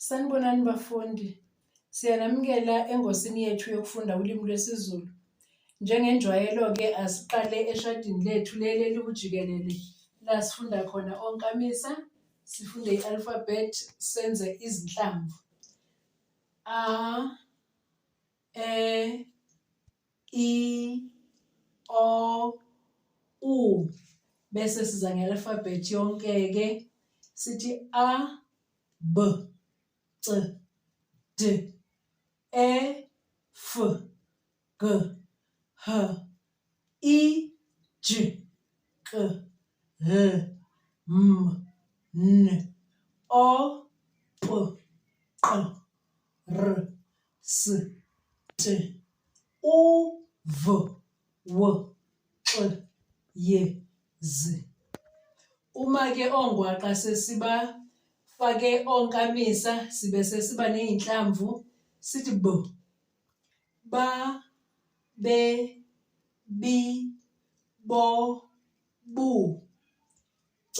Sanibonani bafundi. Siyanamukela engosini yethu yokufunda ulimi lwesiZulu. Njengenjwayelo-ke asiqale eshadini lethu leli eliwujikelele la sifunda khona onkamisa, sifunde i-alphabet, senze izinhlamvu. A, E, i o u bese siza nge-alphabet yonke-ke sithi a b c d e f g h i j k l m n o p q r S T U V W X Y Z Uma ke ongwaqa sesiba fake onkamisa sibe sesiba nezinhlamvu sithi b ba be bi bo bu c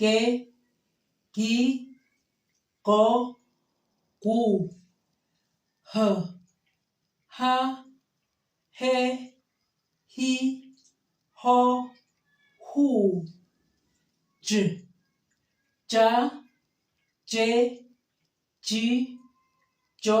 ge gi go gu h ha he hi ho hu j ja je ji jo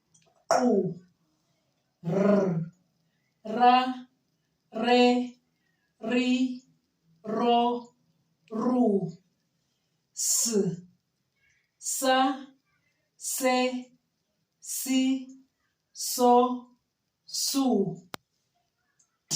qu r ra re ri ro ru s sa se si so su t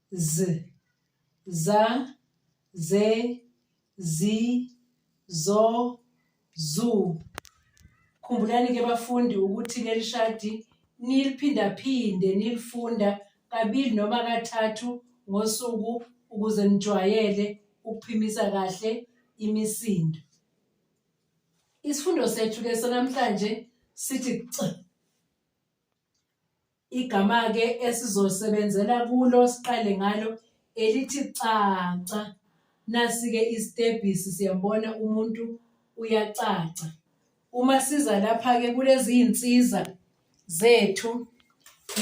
z za ze zi zo zu khumbulani ke bafundi ukuthi leli shadi niliphindaphinde nilifunda kabili noma kathathu ngosuku ukuze nijwayele ukuphimisa kahle imisindo isifundo sethu ke sonamhlanje sithi c Igama-ke esizosebenzela kulo siqale ngalo elithi caca. Nasi-ke isitebhisi siyambona umuntu uyacaca. Uma siza lapha-ke kulezi iy'nsiza zethu,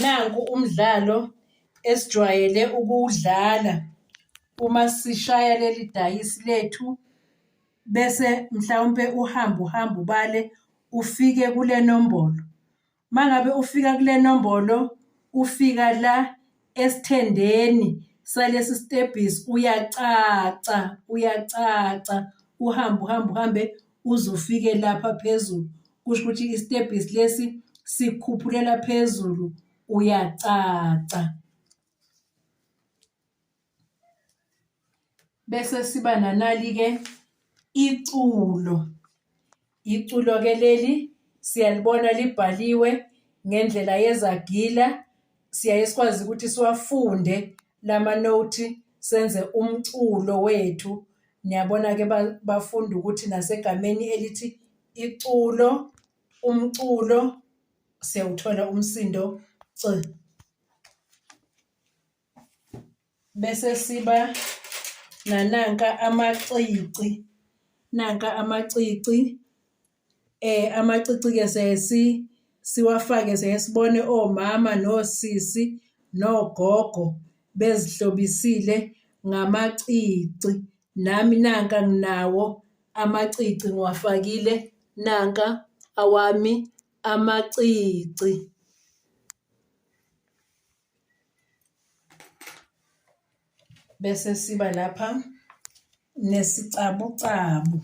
nanku umdlalo esijwayele ukuwudlala uma sishaya leli dayisi lethu bese mhlawumpe uhamba uhamba ubale ufike kule nombolo. Mangabe ufika kule nombolo ufika la esithendeni salesi stebhisi uyacaca uyacaca uhambe uhambe uhambe uze ufike lapha phezulu kusho ukuthi isitebhisi lesi sikhuphulela phezulu uyacaca. Bese siba nanali-ke iculo. Iculo-ke leli siyalibona libhaliwe ngendlela yezagila, siyaye sikwazi ukuthi siwafunde lama-note senze umculo wethu. Niyabona-ke bafunde ukuthi nasegameni elithi iculo, umculo siyawuthola umsindo C. bese siba nananka amacici nanka amacici eh amacici ke sesi siwafake sesibone omama nosisi nogogo bezihlobisile ngamacici nami nanka nginawo amacici ngiwafakile nanka awami amacici bese siba lapha nesicabucabu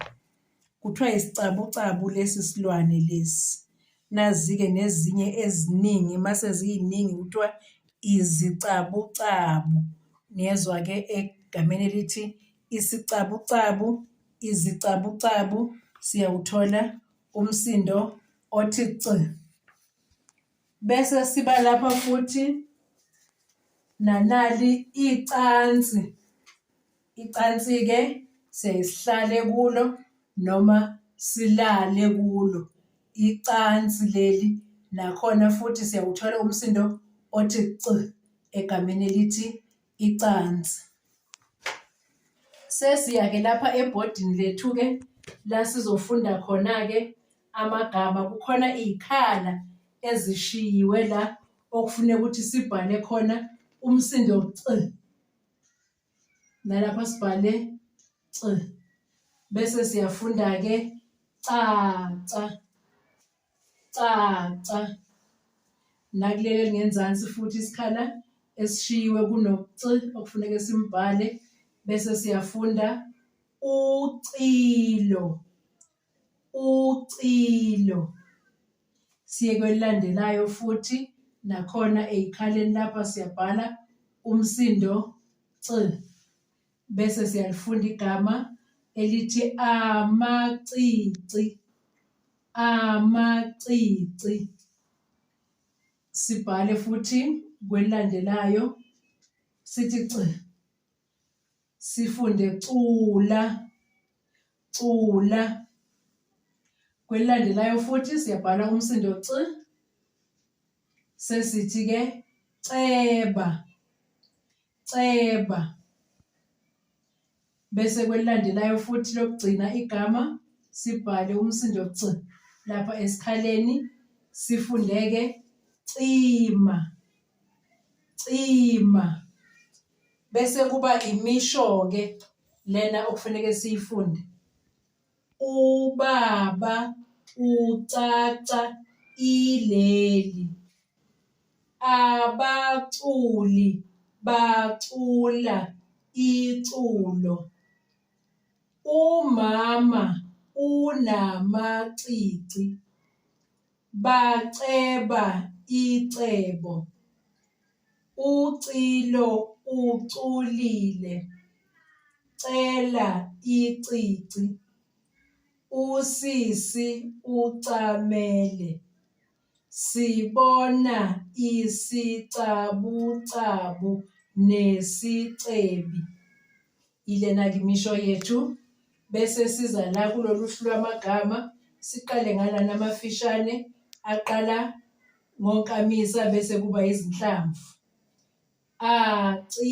kuthiwa isicabucabu lesi silwane lesi nazi-ke nezinye eziningi mase ziyiningi kuthiwa izicabucabu niyezwa-ke egameni elithi isicabucabu izicabucabu siyawuthola umsindo othi c Bese siba lapha futhi nanali icansi. Icansi-ke sesihlale kulo noma silale kulo. Icansi leli nakhona futhi siyawuthola umsindo othi c egameni elithi icansi. Sesiya-ke lapha ebhodini lethu-ke la sizofunda khona-ke amagama. Kukhona iy'khala ezishiyiwe la okufuneka ukuthi sibhale khona umsindo c. Nalapha sibhale c. Bese siyafunda-ke caca. Caca. Nakuleli elingenzansi futhi isikhala esishiyiwe kunoc okufuneka simbhale bese siyafunda ucilo. Ucilo. Siye kwelilandelayo futhi nakhona eyikhaleni lapha siyabhala umsindo c. Bese siyalifunda igama elithi amacici. Amacici. Sibhale futhi kwelilandelayo sithi c. Sifunde cula. Cula. Kwelilandelayo futhi siyabhala umsindo c. Sesithi ke ceba. Ceba. Bese kwelilandelayo futhi lokugcina igama sibhale umsindo c lapha esikhaleni sifundeke cima cima bese kuba imisho ke lena okufanele siyifunde Ubaba ucaca ileli. Abaculi bacula iculo. Umama unamacici. Baceba icebo. Ucilo uculile. Cela icici. Usisi ucamele. Sibona isicabucabu nesicebi. Yilena-ke imisho yethu bese siza la kulolu hlu lwamagama siqale ngalana amafishane aqala ngonkamisa bese kuba izinhlamvu a ci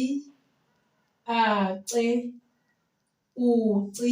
a ce u ci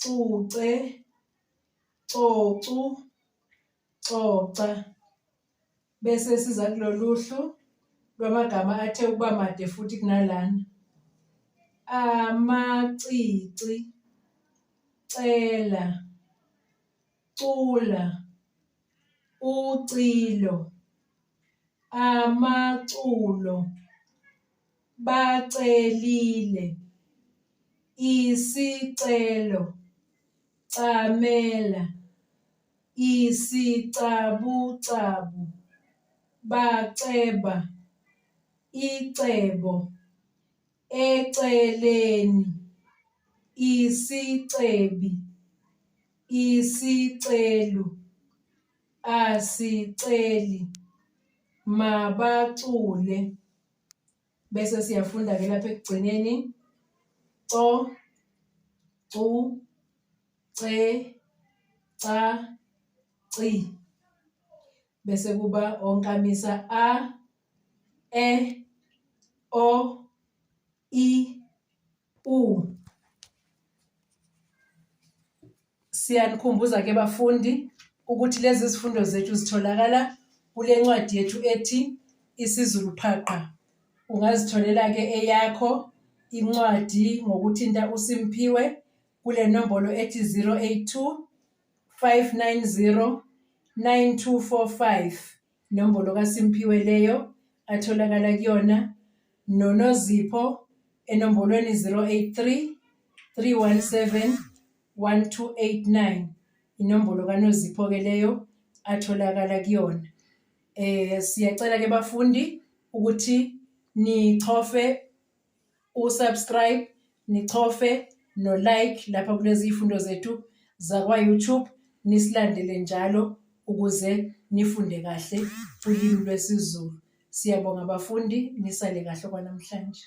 cuce, cocu, coca. Bese siza kuloluhlu lwamagama athe ukuba made futhi kunalana. Amacici, cela, cula, ucilo, amaculo. bacelile isicelo camela isicabucabu baceba icebo eceleni isicebi isicelu asiceli mabacule bese siyafunda-ke lapha ekugcineni co cu ce ca ci bese kuba onkamisa a e o i u Siyanikhumbuza ke bafundi ukuthi lezi zifundo zethu zitholakala kule ncwadi yethu ethi isiZulu Phaqa. Ungazitholela ke eyakho incwadi ngokuthinta uSimphiwe kule nombolo ethi 082 590 9245 Nombolo kaSimphiwe leyo atholakala kuyona noNozipho enombolweni 083 317 1289 inombolo kaNozipho ke leyo atholakala kuyona eh siyacela ke bafundi ukuthi nichofe usubscribe nichofe no-like lapha kulezi ifundo zethu zakwa-youtube nisilandele njalo ukuze nifunde kahle ulimi lwesiZulu. Siyabonga bafundi, nisale kahle kwanamhlanje.